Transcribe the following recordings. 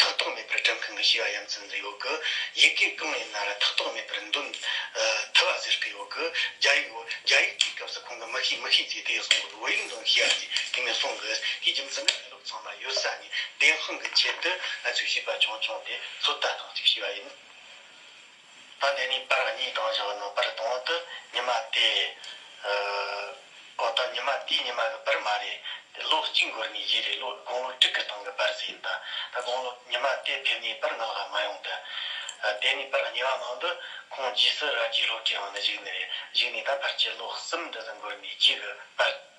ཐག་ཐོག་མེད་པར་དྲང་གི་མི་ཤེས་པ་ཡམ་ཙམ་འདི་ཡོད་གི། ཡི་གེ་གང་ཡིན་ན་ར་ཐག་ཐོག་མེད་པར་འདོན་ཐུབ་པ་ཟེར་གི་ཡོད་གི། རྒྱ་ཡིག་འོ་རྒྱ་ཡིག་གི་སྐབས་སུ་ཁོང་གི་མི་ཤེས་མི་ཤེས་ཀྱིས་དེ་གསུང་གི་འོ་ཡིག་འདོན་ཤེས་ཡ་ཀྱིས་དེ་མི་གསུང་གི། དེའི་རྒྱུ་མཚན་ནི་གནས་ལུགས་ཚང་མ་ཡོད་ས་ནས་བདེན་དཔང་གི་ཆེད་དུ་ང་ཚོས་ཤེས་པ་ཆུང་ཆུང་དེ་ཚོད་ལྟ་སྟངས་ཤིག་བྱས་པ་ཡིན། ད་འདི་ནས་པར་གཉིས་གཏོང་བཞག་ནོ་པར་གཏོང་འོག་ཏུ་ཉི་མ་དེ་འོག་ད་ཉི་མ་དེའི་ཉི་མ་གི་པར་མ་རེད་དེ་ལོ་གཅིག་འགོར་ནས་བཞི་རེད་ལོ་དགུང་ལོ་དྲུག་གི་སྟེང་གི་པར་ཟེར་ཡིན་ད་ད་དགུང་ལོ་ཉི་མ་དེ་ཕེབས་ནས་པར་ངག་ལ་མ་ཡོང་ད་དེ་ནས་པར་གཉིས་པ་མང་དུ་ཁོང་རྗེས་སུ་ར་རྒྱའི་སློབ་གྲྭའི་ངང་ནས་བཞུགས་ནས་རེད་བཞུགས་ནས་ད་ཕར་ཆད་ལོ་གསུམ་འདི་དང་འགོར་ནས་རྗེས་གི་པར།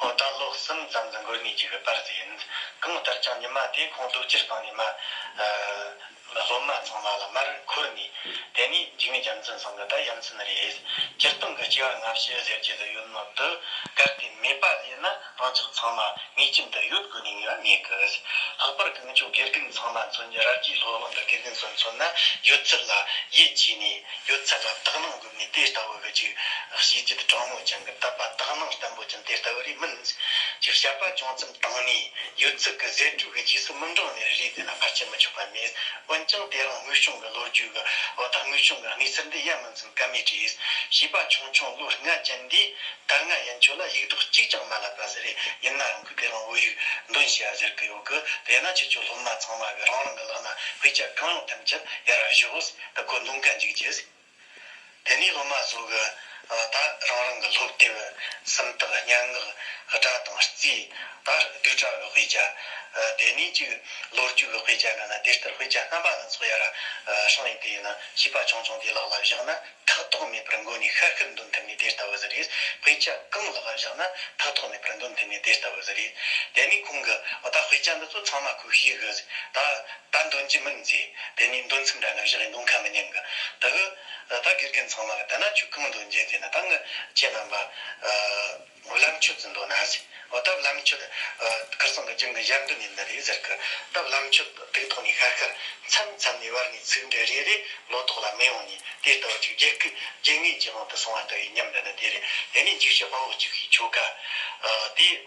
ཨོ་ད་ལོ་གསུམ་ཙམ་ཙམ་འགོས་ངེས་ཀྱི་བར་དུ་ཡིན། གང་ལྟར་ཀྱང་ཉི་མ་དེ་ཁོང་ལུག་ཁྱིར་བཏང་ནས་མ། སློབ་མ་ཚང་མ་ལ་མར་འཁུར་ནས། དེ་ནས་འཇིགས་མེད་རྒྱ་མཚོའི་སྲང་གི་ད་ཡམ་ཚུན་རེད། སྤྱིར་བཏང་གི་སྐྱེ་བ་སྔ་ཕྱི་ཟེར་རྒྱུ་དེ་ཡུལ་ནང་དུ་གར་དེ་མེད་པ་ལས་ན་རང་ཅག་ཚང་མ་ངེས་ཅན་དུ་ཡོད་དགོས་ནས་ཉོས་པ་མེད་གི། ལྷག་པར་གངས་ལྗོངས་དགེ་རྒན་ཚང་མ་མཚོན་ར་རྒྱའི་ལྷོ་གླིང་གི་དགེ་རྒན་སོ་མཚོན་ན་ཡོད་ཚད་ལ་ཡིད་ཆེས་ནས་ཡོད་ཚད་ལ་དག་སྣང་དགོས། ནི་དེ་ལྟ་བུ་གཅིག་བྱེད་ཀྱི་དྲང་མོ་ཅན་གྱི་དད་པ་དག་སྣང་བརྟན་པོ་ཅན་དེ་ལྟ་བུ་རིགས་མིན། སྤྱིར་བཤད་པ་ཅུང་ཙམ་དང་ནི་ཡོད་ཚད་ཀྱི་ཟས་དྲུག་གི་རྗེས་སུ་མི་འབྲང་ནི་རིགས་དེ་ལ་ཕར་ཆེར་མི་ཆོག་པ་མེད། འོན་ཀྱང་དེ་རང་དངོས་བྱུང་གི་ལོ་རྒྱུས་ཀྱི་བར་དག་དངོས་བྱུང་གི་གནས་ཚུལ་འདི་ཡ་མི་འཛིན་ཀ་མེད་དྲིས། བྱིས་པ་ཆུང་ཆུང་ལོ་ལྔ་ཅན་འདིས་དར་ལྔ་ཡན་ཆོད་ལ་ཡིག་འབྲོག་གཅིག་ཀྱང་མ་བསླབས་པ་ཟེར་རེ་ཡིན་ནའང་གི་དེ་རང་བོད་ཡིག་འདོན་བྱེད་ཟེར་གི་ཡོད་གི་དེས་ན་ཁྱེད་ཅོ་སློབ་མ་ཚང་མ་གི་རང་རང་གི་ལག་ན་དཔེ་ཆ་གང་ཡོང་ཐམས་ཅད་ཡར་བཞོགས་དེ་ཀོ་འདོན་ཀ་འཇུག་རྗེས། དེ་ནས་སློབ་མ་ཚོ་གི་ད་རང་རང་གི་སློབ་དེབ་སུམ་རྟགས་སྙན་ངག་སྒྲ་དང་རྩིས་ད་བསྡུས་གྲྭ་བའི་དཔེ་ཆ། དེ་ནས་ཅིག་ལོ་རྒྱུས་ཀྱི་དཔེ་ཆ་འདྲ་ན་དེ་ལྟར་དཔེ་ཆ་རྣམ་པ་སྣ་ཚོགས་ཡར་བསྲིངས་ནས་དེ་ཡིན་ན་ཤེས་པ་ཆུང་ཆུང་དེ་ལག་ལ་བཞག་ན་ཐག་ཐོག་མེད་པར་འགོ་ནས་ཤར་ཤར་འདོན་ཐུབ་ནས་དེ་ལྟ་བུ་ཟི་རེད། དཔེ་ཆ་གང་ལག་ལ་བཞག་ན་ཐག་ཐོག་མེད་པར་འདོན་ཐུབ་ནས་དེ་ལྟ་བུ་ཟི་རེད། དེ་ནས་ཁོང་གིས་ད་དཔེ་ཆ་འདི་ཚོ་ཚང་མ་ཁོས་ཤེས་གི་ཟིག་ད། ད་འདོན་གྱི་མིན་ཅེས་དེ་ནས་འདོན་ཚིག་འདྲ་ནི་བཞག་ཡིན་འདོན་ཁ་མི་ཉན་གི། དེ་གི། ད་དགེ་རྒན་ཚང་མ་གི་ད་ནང་ཆོས་གང་འདོན་རྒྱུ་དེ་ནི་ད་ངི་ཁྱེད་རྣམ་པ། བརླམ་ཆོས་ཙི་འདོན་ཨ་ཟེར། ད་བརླམ་ཆོས། ཁིར་ཚང་གི་རྒྱུན་གི་ཡར་འདོན་ནི་འདི་རེད་ཟེར་གི། ད་བརླམ་ཆོས་དེང་ཐོག་ནས་ཤར་ཤར། མཚམས་མཚམས་ནས་བར་ནས་ཚིག་འདྲེ་རེ་རེ་ལོ་ཐོག་ལ་མི་ཡོང་ནས་དེ་ལྟ་བུ་ཅིག་རྒྱལ་སྐུ་རྒྱལ་ངེས་ཀྱི་དབང་དུ་སོང་བ་ལྟ་བུའི་ཉམས་འདི་ནི་དེ་རེད་དེ་ནས་འཇིགས་བྱེད་དཔའ་བོ་གཅིག་གིས་ཁྱོ་ག། དེས།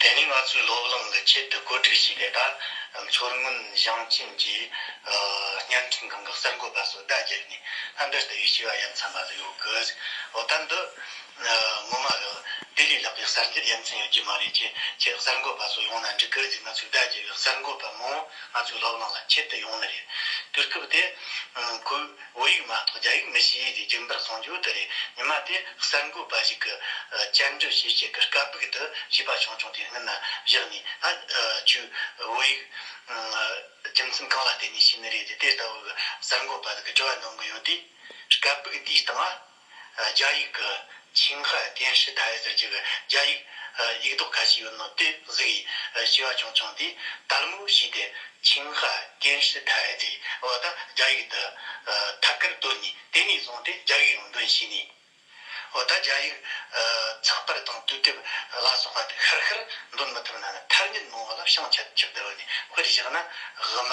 དེ་ནི་ང་ཚོའི་སློབ་གླིང་གི་ཆེད་དུ་བཀོད་སྒྲིག་བྱས་པའི་ལྟར་མཚོ་སྔོན་ཞིང་ཆེན་གྱི་བརྙན་འཕྲིན་ཁང་གི་གསར་འགོད་པ་ཚོས་ཟླ་བརྒྱད་ནས་ལྷ་འདྲེ་ལྟ་བུའི་སྐྱེས་པ་ཡ་མཚན་པ་ཟིག་ཡོད་གི། འོ་ད་འདི་ངོ་མ་གི་དེ་ལས་ལྷག་པའི་གསར་འགྱུར་ཡ་མཚན་ཡོད་ཀྱི་མ་རེད་ཅེས་ཁྱེད་གསར་འགོད་པ་ཚོ་ཡོང་ན་འགྲིག་གི་ཟིག་ང་ཚོའི་ཟླ་བརྒྱད་པའི་གསར་འགོད་པ་མང་བོ་ང་ཚོའི་སློབ་གླིང་ལ་ཆེད་དུ་ཡོང་ནི་རེད་དུས་སྐབས་དེ་ཁོས། བོད་ཡིག་མ་གཏོགས་རྒྱ་ཡིག་མི་ཤེས་ཡས་ཀྱི་རྒྱུན་པར་སོང་རྒྱུ་དེ་རེད་ཉི་མ་དེ་གསར་འགོད་པ་ཞིག་གི་བསྐྱར་འབྲི་བྱེད་ཤེས་ཀྱི་སྐ་སྦུག་དུ་བྱིས་པ་ཆུང་ཆུང་དེ་སྔུན་ན་བཞག་ནས་ཨ་ཁྱོས་བོད་ཡིག་རྒྱུ་མཚན་གང་ལ་བརྟེན་ནས་ཤེས་ནི་རེད་དེ་ལྟ་བུ་གསར་འགོད་པ་དག་གི་དྲི་བ་འདོན་གི་ཡོད་དེ་སྐ་སྦུག་འདིའི་སྟེང་ཨ། རྒྱ་ཡིག་གི་ཆིང་ཧྭ་ཏེན་ཧྲི་ཐའེ་ཟེར་གྱི་གི་རྒྱ་ཡིག་ཡིག་རྡོག་ག་ཅིག་ཡོད་ནོ་དེ་གཟིགས་ཡིས་ཞི་བ་ཆུང་ཆུང་དེ་དལ་མོ་བྱས་ཏེ་ཆིང་ཧྭ་ཏེན་ཧྲི་ཐའེ་ཟེར་གྱི་བ་ད་རྒྱ་ཡིག་དུ་ཐ་སྐར་བཏོད་ནས་དེ་ནས་བཟུང་སྟེ་རྒྱ་ཡིག་ཡོང་དོན་བྱས་ནས་བ་ད་རྒྱ་ཡིག་ཚགས་པར་དང་དུས་དེབ་བླ་སོགས་བ་ད་ཤར་ཤར་འདོན་མི་ཐུབ་ན་ཐར་ཉེར་མང་བ་ལ་བྱང་ཆ་ཆུབ་བསྡུ་བ་ནས་དཔེར་བཞག་ན་དབུ་མ།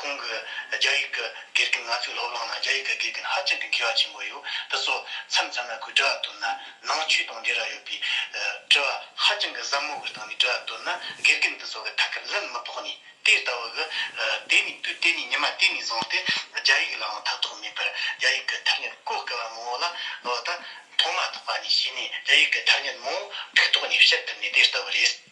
ཁོང་གིས་རྒྱ་ཡིག་གི་དགེ་རྒན་ང་ཚོའི་སློབ་གླིང་ནང་རྒྱ་ཡིག་གི་དགེ་རྒན་ཧ་ཅང་གི་མཁས་པ་ཆེན་པོ་ཡོད་དེ་སོགས་མཚམས་མཚམས་ལ་གུས་སྤྲོ་བ་བཏོན་ན་ནང་ཆོས་དང་འབྲེལ་བ་ཡོད་པའི་དྲི་བ་ཧ་ཅང་གི་ཟབ་མོ་བའི་སྟེང་ནས་དྲི་བ་བཏོན་ན་དགེ་རྒན་དེ་ཚོ་གི་ཐད་ཀར་ལན་མི་ཕོག་ནས་དེ་ལྟ་བུ་གི་དེ་ནས་དུས་དེ་ནས་ཉི་མ་དེ་ནས་བཟུང་སྟེ་རྒྱ་ཡིག་ལའང་ཐ་ཐོག་མེད་པར་རྒྱ་ཡིག་གི་ཐར་ཉར་གོ་དཀའ་བ་མང་བོ་ལ་ད་མཐོང་མ་ཐག་པ་ནས་བྱས་ནས་རྒྱ་ཡིག་གི་ཐར་ཉར་མང་བོ་ཕུགས་ཐོག་ནས་བཤད་ཐུབ་ནས་དེ་ལྟ་བུ་རེད།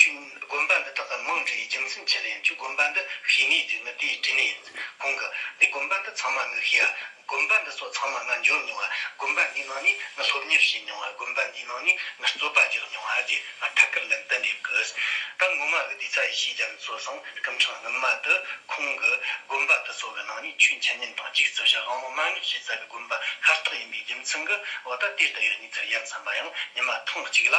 ཁྱོད་དགོན་པ་འདི་དག་གི་མིང་འབྲི་བའི་རྒྱུ་མཚན་ཅི་ལ་ཡིན་ཁྱོད་དགོན་པ་འདི་ཤེས་ངེས་རྒྱུ་ནི་དེའི་དྲིན་ཡིན། གོང་གི། འདི་དགོན་པ་འདི་ཚང་མ་ངས་ཤེས། དགོན་པ་འདི་སོགས་ཚང་མ་ང་འབྱོར་མྱོང། དགོན་པ་འདིའི་ནང་ནས་ངས་སློབ་གཉེར་བྱས་མྱོང། དགོན་པ་འདིའི་ནང་ནས་ངས་རྩོད་པ་རྒྱག་མྱོང་ཨ་ཅེ་ང་ཐད་ཀར་ལན་སྟན་རེ་ཕུལ། ད་ངོ་མ་གི་དུས་ཚ་ཡིས་ཤེས་རྒྱ་མི་ཚོར་སོང་སྐུ་འཕྲང་སྔོན་མ་དུ། ཁོང་གི། དགོན་པ་འདི་སོགས་ཀྱི་ནང་ནས་ཁྱོད་འཆད་ཉན་དང་གཅིག་རྩོད་བཞག་དབང་ལུང་མ་ངས་བྱས་ཚར་བའི་དགོན་པ་ཤ་སྟག་ཡིན་པའི་རྒྱུ་མཚན་གྱི་འོག་ད་ལྟའི་ལྟར་ཡོད་ཉི་ཚེ་བར་ཡ་མཚན་པ་ཡང་ཉི་མ་ཐེངས་གཅིག་ལ།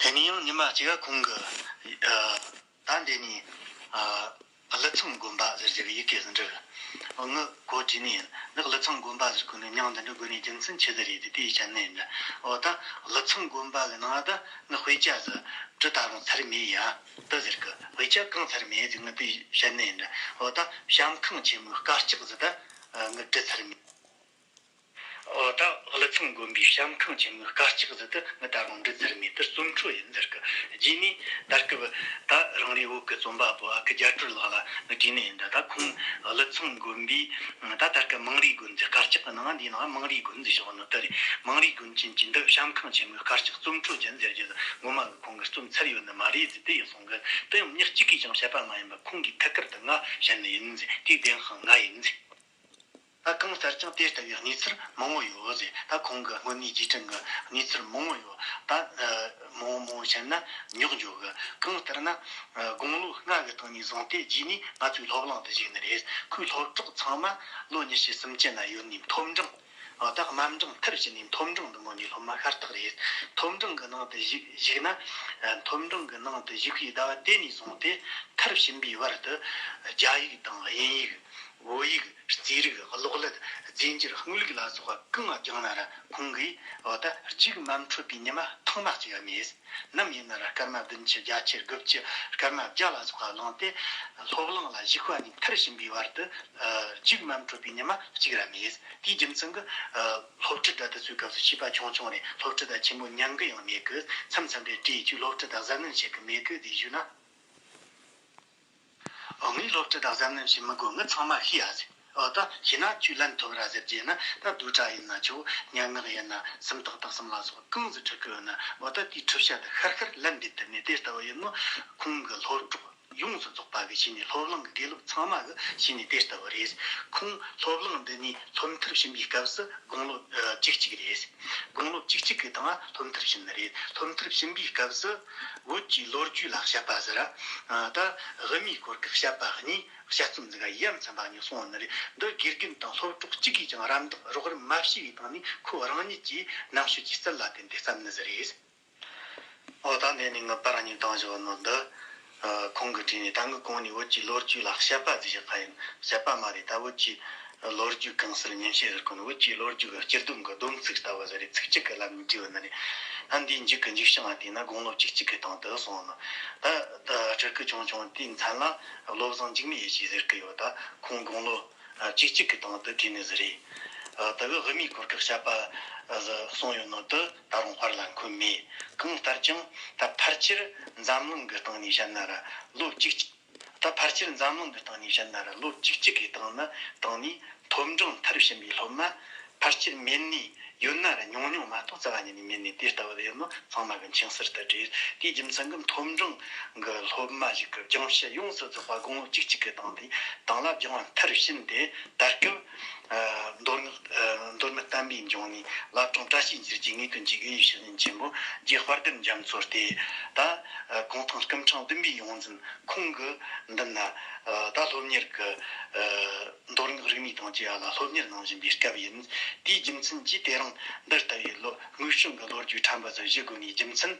དེ་ནས་ཡང་ཉི་མ་གཅིག་ག་གོང་གི་ཟླ་འདི་ཉིན་གླི་ཚང་དགོན་པ་ཟེར་གྱི་ཡི་གེ་ཟིན་འབྲི་དངུལ་སྒོར་གཅིག་ནས་ནི་གླི་ཚང་དགོན་པ་ཟེར་དགོས་ནི་ཉིང་འདི་འདྲི་དགོས་ནི་རྒྱུ་མཚན་ཆི་ཟི་རེད་དེ་དེའི་ཞལ་ནས་འདྲི་འོ་ད་གླི་ཚང་དགོན་པ་གི་ནང་དུ་ནི་དཔེ་ཆ་ཟི་བྲི་ད་རུང་ཚར་མེད་ཡ་དི་ཟེར་གི་དཔེ་ཆ་གང་ཚར་མེད་ཟི་ནི་དེའི་ཞལ་ནས་འདྲི་འོ་ད་བྱམས་ཁང་ཆེན་མོའི་དཀར་ལྕགས་ཟི་ད་ནི་བྲི་ཚར་མེད། ཨོ་ད་ལྷུ་ཚང་དགོན་པའི་བྱམས་ཁང་ཆེན་མོའི་དཀར་ཆག་གཟི་དུ་ངི་ད་རང་འགྲུལ་ཚར་མེད་དུ་གསུམ་འཕྲོ་ཡི་འཛེར་གི་རྗེས་ནས་ད་སྐབས་ད་རང་རེའི་བོད་ཀྱི་རྩོམ་པ་པོ་ཨ་ཁུ་རྒྱ་སྤྲུལ་ལགས་ལ་ངི་དྲིས་ནི་ཡིན་ད་ད་ཁོང་ལྷུ་ཚང་དགོན་པའི་ད་ད་སྐབས་མང་རིའི་དགོན་འཛི་དཀར་ཆག་གི་ནང་འདིའི་ནང་མང་རིའི་དགོན་འཛི་ཞེས་པ་ནོར་དི་རེད་མང་རིའི་དགོན་ཆེན་གྱི་འདི་བྱམས་ཁང་ཆེན་མོའི་དཀར་ཆག་གསུམ་འཕྲོ་ཡི་འཛེར་རྗེས་སུ་ངོ་མ་གི་ཁོང་གི་རྩོམ་ཚར་ཡོད་ནི་མ་རེད་ཟི་དི་ཡི་གསུང་གི་དུ་ཡང་མྱི་གཅིག་གིས་ཀྱང་བཤད་པ་མ་ཡིན་པར་ཁོང་གིས་ཐད་ཀར་དུ་ང་བཤད་ནི་ཡིན་འཛི་དེའི་བདེན་ཧང་ང་ཡིན་འཛི། ད་གང་ལྟར་ཀྱང་དེ་ལྟ་བུའི་གནས་ཚུལ་མང་བོ་ཡོད་རེད་ད་ཁོང་གི་དངོས་གནས་རྗེས་དྲན་གི་གནས་ཚུལ་མང་བོ་ཡོད་ད། མང་བོ་མང་བོ་བཤད་ན་ཉོག་འཇོག་གི་གང་ལྟར་ན། དགུང་ལོ་ལྔ་གི་སྟེང་ནས་བཟུང་སྟེ་རྗེས་ནས་ང་ཚོའི་སློབ་གླིང་དུ་ཞུགས་ནི་རེད་ཁོའི་སློབ་གྲོགས་ཚང་མ་ལོ་ཉེར་བཞི་གསུམ་ཅན་ན་ཡོད་ནས་མཐོ་འབྲིང་བ་དག་རྣམ་གྲངས་མཐར་ཕྱིན་ནས་འཐོམ་གྲངས་འདི་མོ་ནི་སློབ་མ་ཤ་སྟག་རེད། འཐོམ་གྲངས་ཀྱི་ནང་དུ་བཞུགས་བཞུགས་ན། འཐོམ་གྲངས་ཀྱི་ནང་དུ་བཞུགས་པའི་ཟླ་བ་དེ་ནས་བཟུང་སྟེ་མཐར་ཕྱིན་པའི་བར་དུ། རྒྱ་ཡིག་དང་དབྱིན་ཡིག། བོད་ཡིག། རྩིས་རིག་གློག་ཀླད། རྫས་འགྱུར་དངོས་ལུགས་ལ་སོགས་པ་གང་རྒྱང་ན་རུ་ཁོང་གིས་བ་དག་རྒྱུགས་མམ་འཕྲོད་པའི་ཉི་མ་ཐོག་མ་གཅིག་ཡང་མེད། ནམ་ཡིན་ན་ར་སྐར་མ་བདུན་ཅུ་བརྒྱ་ཅེར་དགུ་བཅུ་སྐར་མ་བརྒྱ་ལ་སོགས་པ་བླངས་ཏེ། སློབ་གླིང་ལ་བཞུགས་པ་ནས་མཐར་ཕྱིན་པའི་བར་དུ། རྒྱུགས་མམ་བྲོས་པའི་ཉི་མ་གཅིག་ར་མེད། དེའི་རྒྱུ་མཚན་གྱིས། སློབ་ཁྲིད་དག་དུས་ཚོད་སྐབས་སུ་བྱས་པ་ཆུང་ཆུང་རེད་སློབ་ཁྲིད་དག་ཆེན་པོ་མྱང་གི་ཡང་མེད་གི། མཚམས་མཚམས་རེར་བཀྲས་བཅུས་སློབ་ཁྲིད་དག་གཟབ་ནན་བྱེད་ཀྱི་མེད་གི་དེ་བཞུགས་ན། འོ་ངའི་སློབ་གྲྭ་དང་གཟབ་ནན་བྱེད་མི་དགོས་ངི་ཚང་མ་ཤི་ཡ་ཟེར་ཨོ་ད་ཤི་ན་ཁྱོད་ལན་ཐོབ་ར་ཟེར་རྗེས་ན་ད་བསྡུར་གྲྭ་ཡིན་ན་ཆོག་སྙན་ངག་ཡིན་ན་སུམ་རྟགས་དག་སུམ་ལ་སོགས་གང་ཟིག་འཁྲི་གི་ཡོད་ན་ཨོ་ད་དེའི་འཁྲི་བྱ་དེ་ཤར་ཤར་ལན་འདེབས་ཐུབ་ནས་དེ་ལྟ་བུ་ཡིན་ནོ་ཁོང་གི་སློབ་གྲོགས་ཡོངས་སུ་རྫོགས་པ་གི་བྱས་ནས་སློབ་གླིང་གི་དགེ་སློབ་ཚང་མ་གི་བྱས་ནས་དེ་ལྟ་བུ་རེད་ཁོང་སློབ་གླིང་འདི་ནས་སློབ་མཐར་ཕྱིན་པའི་སྐབས་སུ་དགུང་ལོ་གཅིག་གཅིག་རེད་དགུང་ལོ་གཅིག་གཅིག་གི་དང་སློབ་མཐར་ཕྱིན་ནི་རེད་སློབ་མཐར་ཕྱིན་པའི་སྐབས་སུ། བོད་ཀྱི་ལོ་རྒྱུས་ལ་བཤད་པ་ཟེར་ད་དབུ་མའི་སྐོར་གྱི་བཤད་པ་གཉིས་དཔྱད་རྩོམ་འདི་ག་ཡིད་ཡམས་ཚན་པ་ཉོ་སོང་ནི་རེད་འདི་དགེ་རྒན་དང་སློབ་གྲོགས་གཅིག་གིས་ཀྱང་རམ་འདེགས་རོགས་རམ་མ་བྱས་པའི་སྟེང་ནས་ཁོ་རང་ཉིད་ཀྱིས་ནང་ཆོས་ཀྱི་རྩལ་ལ་བརྟེན་ཏེ་བརྩམས་ནི་ཟེར་རེད། འོ་ད་ནས་ནི་ངུ་པར་གཉིས་གཏོང་བཞག་ནོར་འདི་ཁོང་གིས་བྲིས་ནས་ད་ངུ་གོང་ནས་བོད་ཀྱི་ལོ་རྒྱུས་ལ་བཤད་པ་བརྫི་བཞག་ག་ཡིན་བཤད་པ་མ་རེད་ད་བོད་ཀྱི་ལོ་རྒྱུས་གང་སར་ཉིན་བྱེད་རེར་ཀུན་བོད་ཀྱི་ལོ་རྒྱུས་ཀྱི་སྤྱིར་བསྡོམས་ཀྱི་སྡོམ་ཚིག་ལྟ་བ་ཟེར་བའི་ཚིག་གཅིག་གི་ལམ་མི་འབྲས་བུ་ནི་རེད། ད་འདིའི་མཇུག་གི་འཇིགས་བྱང་ལ་བལྟས་ན་དགུང་ལོ་བཅུ་གཅིག་གི་སྟེང་དུ་སོང་ནི། ད་ཕྲུ་གུ་ཆུང་ཆུང་དེའི་མཚན་ལ་བློ་བཟང་འཇིགས་མེད་ཞེས་ཟེར་གྱི་ཡོད། ད་ཁོང་དགུང་ལོ་བཅུ་གཅིག་གི་སྟེང་དུ་དུས་ནས་ཟི་རེད། དེ་གའི་དབུ་མའི་གོ་སྐབས་བཤད་པ་གསུངས་ཡོད་ནོ་དི་ད་རུང་ཕར་ལ་འཁོད་མེད། གང་ལྟར་ཀྱང་ད་ཕར་ཆེར་འཛམ་གླིང་གི་སྟེང་ནས་བཤད་ན་ར་ལོ་བཅུ་གཅིག། ད་ཕར་ཆེར་འཛམ་གླིང་གི་སྟེང་ནས་བཤད་ན་ར་ལོ་བཅུ་གཅིག་གི་སྟེང་ནི་སྟེང་ནས་ཐོབ་འབྲིང་མཐར་ཕྱིན་པའི་སློབ་མ་ཕར་ཆེར་མེད་ནས་ཡོད་ན་ར་ཉུང་ཉུང་མ་གཏོགས་རྩ་བ་ཉིད་ནས་མེད་ནས་དེ་ལྟ་བུ་ལས་ནི་ཚང་མ་གི་མཆན་གསར་དུ་བྲིས་དེའི་རྒྱུ་མཚན་གི་ཐོབ་འབྲིང་གི་སློབ་མ་ཞིག་གི་སྦྱང་བྱེད་ཡོངས་སུ་རྫོགས་པ་དགུང་ལོ་བཅུ་གཅིག་གི་སྟེང་དེའི་སྟེང་ལ་སྦྱང་བ་མཐར་ཕྱིན་དེ་དར་སྐབས། མདོར་ན། མདོར་ན་བསྟན་པའི་འབྱུང་གནས་བླ་བྲང་བཀྲ་ཤིས་འགྱུར་གྱི་དངོས་དོན་གྱི་ཡེ་ཤེས་ཆེན་པོ་རྒྱས་དཔལ་དགར་འཇམ་རྩོད་ལྟའི། ད་གུང་ཐང་སྐུ་འཕྲེང་བདུན་པའི་ཡོངས་འཛིན་ཁོང་གི་མདུན་ན། ད་སློབ་གཉེར་གྱི་མདོ་སྔགས་རིག་གནས་དང་བཅས་པ་ལ་སློབ་གཉེར་གནང་བཞིན་པའི་སྐབས་ཡིན། དེའི་རྒྱུ་མཚན་གྱིས་དེ་རིང་འདི་ལྟ་བུའི་ལོ་དངུལ་སྤྱོད་འགའི་ལོ་རྒྱུས་ཕྲན་བུ་ཙམ་ཞིག་བགོས་ནས་རྒྱུ་མཚན།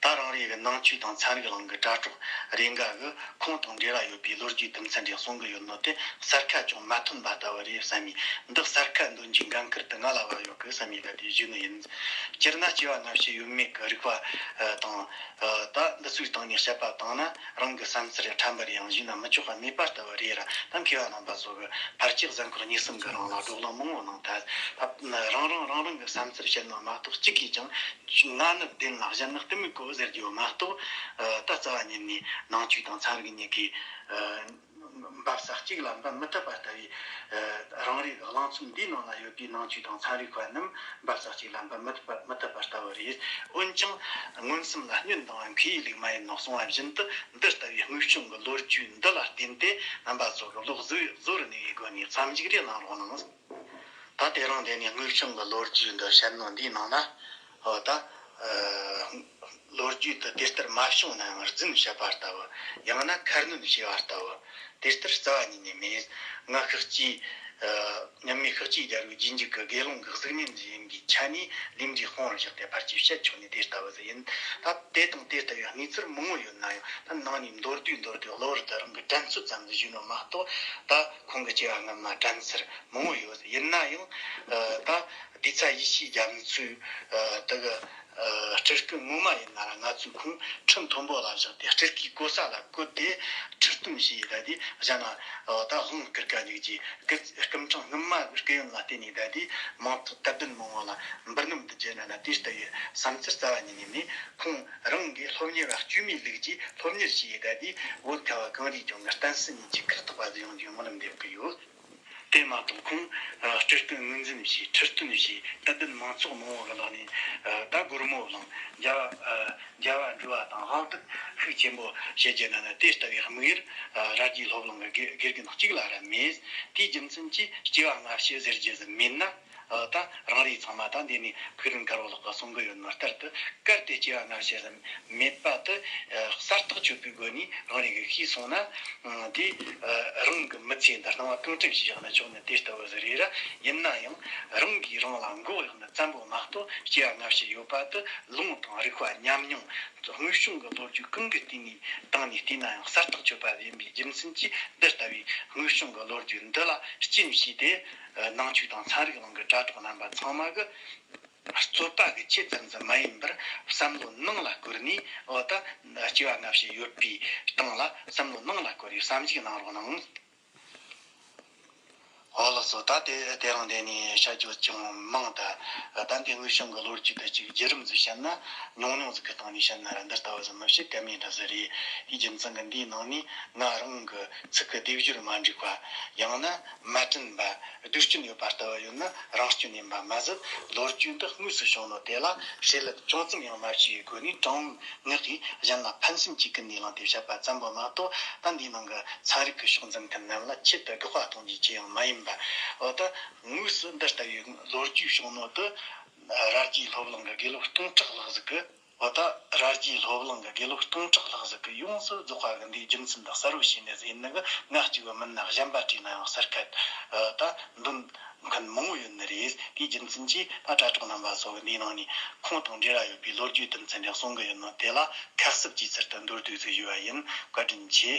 ད་རང་རེ་གི་ནང་ཆོས་དང་ཚན་རིག་ལང་གི་དྲ་གྲོགས་རེ་འགའ་གི་ཁོང་དང་འབྲེལ་བ་ཡོད་པའི་ལོ་རྒྱུས་རྡུམ་ཚན་རེ་གསུང་གི་ཡོད་མོད་དེ་གསར་ཁ་ཅུང་མ་ཐོན་པ་ལྟ་བུ་རེད་བསམ་མི་འདུག་གསར་ཁ་འདོན་རྒྱུའི་འགན་ཁུར་དེ་ང་ལ་བབས་ཡོད་གི་བསམ་ཡོད་པ་དེ་གཞི་ནས་ཡིན། སྤྱིར་ན་སྐྱེ་བ་སྔ་ཕྱི་ཡོད་མེད་གི་རིག་པ་དང། ད་འདི་ཚོའི་སྟེང་ནས་བཤད་པ་དང་ན། རང་གི་བསམ་ཚུལ་རེ་ཕྲན་པར་ཡང་གཞིགས་ན་མི་ཆོག་པ་མེད་པ་ལྟ་བུ་རེ་ར་དང་མཁས་པ་རྣམ་པ་སོགས་ཀྱི་བར་ཆད་གཟན་འཁོར་གཉིས་གསུམ་གྱི་རིང་ལ་སྒྲོག་ལང་མང་བོ་གནང་ཐལ། རང་རང་རང་རང་གི་བསམ་ཚུལ་བཤད་ནོ་མ་གཏོགས་གཅིག་གིས་ཀྱང་ང་ནི་བདེན་ལ་གཞན་ནི་གཏི་མུག་གོ་ཟེར་རྒྱུ་མ་གཏོགས། ད་རྩ་བ་ཉིད་ནས་ནང་བཅུད་དང་ཚན་རིག་གཉིས་ཀའི། འབབ་ས་གཅིག་ལ་འབབ་མི་ཐུབ་པ་ལྟ་བུའི་རང་རིགས་ཀྱི་གླང་ཚོམ་འདིའི་ནང་ན་ཡོད་པའི་ནང་ཆོས་དང་ཚན་རིག་པ་རྣམས་འབབ་ས་གཅིག་ལ་འབབ་མི་ཐུབ་མི་ཐུབ་པ་ལྟ་བུ་རེད། འོན་ཀྱང། མངོན་སུམ་ལ་བསྙོན་འདང་བའི་མཁས་ཡིག་ལས་མ་ཡིན་ནོ་གསུང་བ་བཞིན་དུ་འདི་ལྟ་བུའི་དངོས་བྱུང་གི་ལོ་རྒྱུས་འདི་ལ་བརྟེན་ཏེ་རྣམ་པ་ཚོ་གི་ལོག་བཟོས་བཟོ་རུ་གནས་པའི་སྒོ་ནས་མཚམས་འཇུག་རེ་གནང་རོགས་གནང། ད་དེ་རིང་འདི་ནས་དངོས་བྱུང་གི་ལོ་རྒྱུས་འདི་བཤད་ནོ་འདིའི་ནང་ན། ཧོ། ད་ལོ་རྒྱུས་དུ་དེ་ལྟར་མ་བྱུང་ན་ཡང་རྫུན་བཤད་པ་ལྟ་བུ། ཡང་ན་ཁ་སྣོན་བྱས་པ་ལྟ་བུ། དེ་ལྟར་རྩ་བ་ཉིད་ནས་མེད། ངག་ཤེག་སྐྱིད། མཉམ་མེད་ཤེག་སྐྱིད་རྒྱལ་པོའི་རྗེས་འཇུག་གི་དགེ་སློང་གི་གཟུགས་བརྙན་ཞིག་ཡིན་པའི་ཆ་ནས་ལུས་འདིའི་དཔུང་རུ་བཞག་སྟེ་ཕར་ཆེར་བཤད་ཆོག་ནི་དེ་ལྟ་བུ་ཟིག་ཡིན། ད་དེ་དང་དེ་ལྟ་བུའི་གནས་ཚུལ་མང་བོ་ཡོད་ན་ཡང་ད་ནང་ནས་མདོར་བསྡུས་མདོར་བསྡུས་གློ་བུར་དུ་རང་གི་དྲན་ཚུལ་ཙམ་ལ་གཞིགས་ནོ་མ་གཏོགས་ད་ཁོང་གི་སྐྱེ་བ་སྔ་མ་དྲན་ཚུལ་མང་བོ་ཡོད་ཟིག་ཡིན་ན་ཡང། ད། སྡིག་རྩ་ཡིད་ཆེས་རྒྱག་མཁན་ཚོས་དེ་གི་སྤྲེལ་སྐུ་ངོ་མ་ཡིན་ན་ར་ང་ཚོས་ཁུང་ཁྲི་མཐོན་པོ་ལ་བཞག་སྟེ་སྤྲེལ་སྐུའི་གོ་ས་ལ་བཀོད་དེ་ཁྲི་སྟོང་བྱས་ཡོད་དེ་བཞག་ན་ད་ལྷུང་བསྐུར་ག་ཉིག་ཅིག་གིས་སྐུ་འཕྲང་སྔུན་མ་གི་སྐུ་ཡོན་ལ་བརྟེན་ནས་བསྡད་དེ་མང་ཚོགས་དད་ལྡན་མང་བོ་ལ་འབུར་སྣུམ་དུ་བརྗེས་ན་ན་དེ་ལྟ་བུའི་བསམ་ཚུལ་རྩ་བ་ཉིད་ནས་མེད་ཁོང་རང་གིས་སློབ་གཉེར་བ་དཀྱུས་མའི་ལུགས་ཀྱིས་སློབ་གཉེར་བྱས་ཡོད་དེ་བོད་ཁ་བ་གངས་རིའི་ལྗོངས་ཀྱི་བསྟན་སྲིད་གཉིས་ཀྱི་ཁུར་ཐོག་པ་དུ་ཡོང་རྒྱུའི་སྨོན་ལམ་འདེབས་ཀི་ཡོད། དེ་མ་གཏོགས་ཁོང་སྤྲེལ་སྟོན་དངུལ་འཛིན་བྱས་ཁྲི་སྟོན་བྱས་དད་ལྡན་མང་ཚོགས་མང་བོ་གི་ལག་ནས་ད་སྒོར་མོ་བླངས་རྒྱལ་བ་འགྲུལ་བ་དང་ལྷག་སྡུག་ཤུགས་ཆེན་པོ་བྱས་རྒྱལ་ན་ནི་དེ་ལྟ་བའི་དམིགས་ཡུལ་རྭ་རྒྱའི་སློབ་གླིང་གི་དགེ་རྒན་དག་གཅིག་ལ་ར་མེད་དེའི་རྒྱུ་མཚན་གྱིས་སྐྱེ་བ་སྔ་ཕྱི་ཟེར་རྒྱུ་ཟིན་མིན་ན། ད་རང་རེའི་ཚང་མ་དང་འདས་ནས་ཕུག་རོན་དཀར་བོ་ལགས་ཀྱི་གསུང་འབུལ་ཡོད་ནོ་ལྟར་དུ་བཀར་ཏེ་སྐྱེ་བ་སྔ་ཕྱི་ལ་མེད་པ་དུ་གསར་ཐག་ཆོད་པོའི་སྒོ་ནས་རང་རེ་གི་ཤེས་སོང་ན། དེ་རང་གི་མི་ཚེའི་འདར་སྣང་བ་གང་ཐུབ་ཞིག་བཞག་ན་ཆོག་ནི་དེ་ལྟ་བུ་ཟི་རེད། ཡིན་ན་ཡང་རང་གིས་རང་ལ་འགོག་གཡོག་ནི་བཙན་པོ་མ་གཏོགས་སྐྱེ་བ་སྔ་ཕྱི་ཡོད་པ་དུ་ལུང་དང་རིག་པ་ཉམས་མྱོང་དངོས་བྱུང་གི་ལོ་རྒྱུས་གང་གི་སྟེང་ནས་བཏང་ནས་བལྟས་ན་ཡང་གསར་ཐག་ཆོད་པ་ཡིན་པའི་རྒྱུ་མཚན་གྱིས་འདི་ལྟ་བུའི་དངོས་བྱུང་གི་ལོ་རྒྱུས་འདི་ལ་སྐྱིན་བྱས་ཏེ། ནང་ཆོས་དང་ཚན་རིག་ནང་གི་དྲ་གྲོགས་རྣམ་པ་ཚང་མ་གི་རྩོད་པ་གི་ཆེད་ཙམ་ཙམ་མ་ཡིན་པར་བསམ་བློ་ནང་ལ་བསྐུར་ནས་འོ་ད་སྐྱེ་བ་སྔ་ཕྱི་ཡོད་པའི་སྟེང་ལ་བསམ་བློ་ནང་ལ་བསྐུར་ཡོད་བསམ་གཞིག་གནང་རོགས་གནང། ཨོ་ལོ་སོ་ད་དེ་དེ་རང་འདས་ནས་བྱ་རྒྱུ་ཅུང་མང་ད་ད་འདི་དངོས་བྱུང་གི་ལོ་རྒྱུས་དེ་ཅིག་རྒྱུད་རིམ་ཟིག་བཤད་ན་ཉུང་ཉུང་ཟིག་གི་སྟེང་ནས་བཤད་ན་ར་འདི་ལྟ་བུ་ཟིག་མི་བྱེད་ག་མེད་འདྲ་ཟིག་རེད་དེ་རྒྱུ་མཚན་གི་འདིའི་ནང་ནས་ང་རང་གི་ཚིག་གི་སྡེབ་སྦྱོར་མ་འགྲིག་པ་ཡང་ན་མ་བསྐྲུན་པ། བསྡུས་སྐྲུན་ཡོད་པ་ལྟ་བུ་ཡོད་ན་རང་སྐྱོན་ཡིན་པ་མ་ཟད་ལོ་རྒྱུས་འདི་དངོས་སུ་བྱུང་ནོ་དེ་ལ་བྱེད་ལས་ཅུང་ཙམ་ཡང་མ་བྱས་པའི་སྒོ་ནས་དྲང་ངེས་ཀྱིས་གཞན་ལ་ཕན་སེམས་གཅིག་གི་ནས་ལངས་ཏེ་བཤད་པ་ཙམ་པོ་མ་གཏོགས་ད་འདིའི་ནང་གི་ཚན་རིག་གི་ཕྱོགས་འཛིན་མཁན་རྣམས་ལ་ཆེད་དུ་དགག་པ་གཏོང་རྒྱུ་ཅི་ཡང་མ་ཡིན་པ་འོ་ད་དངོས་སུ་འདི་ལྟ་བུའི་ལོ་རྒྱུས་བྱུང་ནོ་དུས་རྭ་རྒྱའི་སློབ་གླིང་གི་དགེ་སློབ་སྟོང་ཕྲག་ལྷག་ཟིག་གིས། བ་ད་ར་རྒྱའི་སློབ་གླིང་གི་དགེ་སློབ་སྟོང་ཕྲག་ལྷག་ཟིག་གི་ཡོངས་སུ་རྫོགས་པ་གི་འདིའི་རྒྱུ་མཚན་དང་གསལ་བོ་ཤེས་ནས་ཟེར་ནི་གི་ང་གཅིག་བུ་མིན་ན་གཞན་པ་བྲིས་ན་ཡང་ཟེར་སྐད་ད་འདོན་མཁན་མང་བོ་ཡོད་ནི་རེད་དེའི་རྒྱུ་མཚན་གྱིས་ད་དྲ་གྲོགས་རྣམ་པ་ཚོ་གི་འདིའི་ནང་ནས་ཁོང་དང་འབྲེལ་ར་ཡོད་པའི་ལོ་རྒྱུས་རྒྱུ་མཚན་རེ་གསུང་གི་ཡོད་ནོ་དེ་ལ་ཁག་གསབ་ཀྱིས་ཚུལ་དུ་འདོད་དུས་ཚུལ་ཞུས་བ་ཡིན་བཀའ་དྲིན་ཆེ།